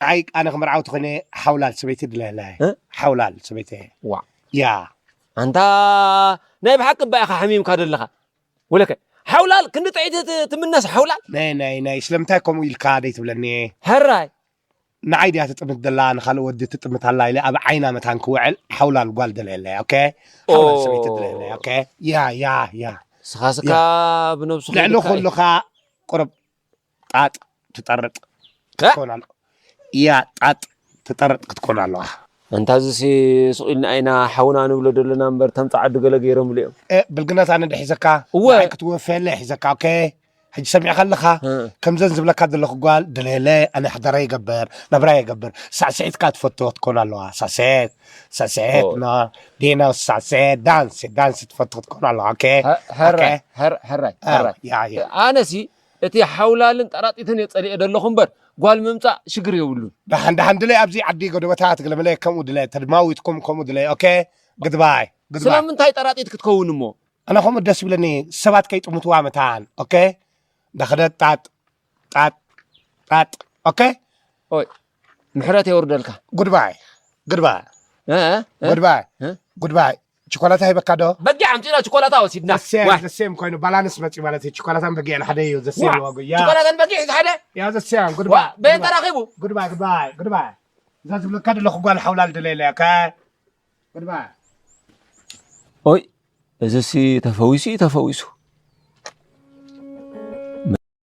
ኣይ ኣነ ክምርዓውቲ ኮይነ ሓውላል ሰበይቲ ድለለ እ? ሓውላል ሰበይቲ ዋ ያ ኣንታ ናይ ብሓቂ እባ ኢኻ ሓሚምካ ዘለኻ ወለከ ሓውላል ክንዲ ጥዒት ት- ትምነስ ሓውላል ናይ ናይ ናይ ስለምንታይ ከምኡ ኢልካ ደይትብለኒ ሕራይ ንዓይ ድያ ትጥምት ደላ ንካልእ ወዲ ትጥምት ኣላ ኢለ ኣብ ዓይና መታን ክውዕል ሓውላል ጓል ደለየለ ኦኬ ሓውላል ኦ። ሰበይቲ ደለየለ ኦኬ ያ ያ ያ ስኻስካ ብነብሱ ልዕሊ ከይድካ እዩ። ኩሉኻ ቁርብ ጣጥ ትጠርጥ ክትኮን ኣለዋ ኢያ ጣጥ ትጠርጥ ክትኮን ኣለዋ። ኣንታ እዚሲ ሱቕ ኢልና ኢና ሓውና ንብሎ ደሎና እምበር እቶም ጸዓዱ ገለ ገይሮምሉ እዮም። እእ ብልግናስ ኣነ ዶ ሒዘካ እወ ንዓይ ክትወፈየለይ ሒዘካ ኦኬ ሕጂ ሰሚዕካ ኣለካ እ ከምዘን ዝብለካ ዘለኩ ጓል ደለየለይ ኣነ ሓዳረይ ይገብር ናብራይ ይገብር ሳዕስዒት ከኣ ትፈቱ ክትኮን ኣለዋ ሳዕስዒት ሳስዔትና ዲና ሳሰ ዳንስ ዳንስ ትፈቱ ክትኮን ኣለዋ ኦኬ ሕራይ ሕራይ ሕራይ ኣነሲ እቲ ሓውላልን ጠራጢትን እየ ፀሊኤ ዘለኹ እምበር ጓል ምምፃእ ሽግር የብሉን ደሓን ደሓን ድለ ኣብዚ ዓዲ ጎደበታ ትግለምለ ከምኡ ድለ ተድማዊትኩም ከምኡ ድለ ኦኬ ግድባይ ስለምንታይ ጠራጢት ክትከውን እሞ ኣነ ከምኡ ደስ ይብለኒ ሰባት ከይጥምትዋ መታን ኦኬ እንዳኸደጣጥ ጣጥ ጣጥ ኦኬ ኦይ ምሕረት የውርደልካ ጉድባይ ጉድባይ ጉድባይ ጉድባይ ቸኮላታ ሂበካ ዶ በጊዕ ኣምፂእና ቸኮላታ ወሲድና ዘሴም ኮይኑ ባላንስ መፂ ማለት እዩ ቸኮላታን በጊዕን ሓደ እዩ ዘሴም ዋጉ ቸኮላታን በጊዕ ሓደ ያ ዘሴም ጉድባይ በየን ተራኺቡ ጉድባይ ጉድባይ ጉድባይ እዛ ዝብለካ ደለኹ ጓል ሓውላል ደለየለ እያ ጉድባይ ኦይ እዚሲ ተፈዊሱ እዩ ተፈዊሱ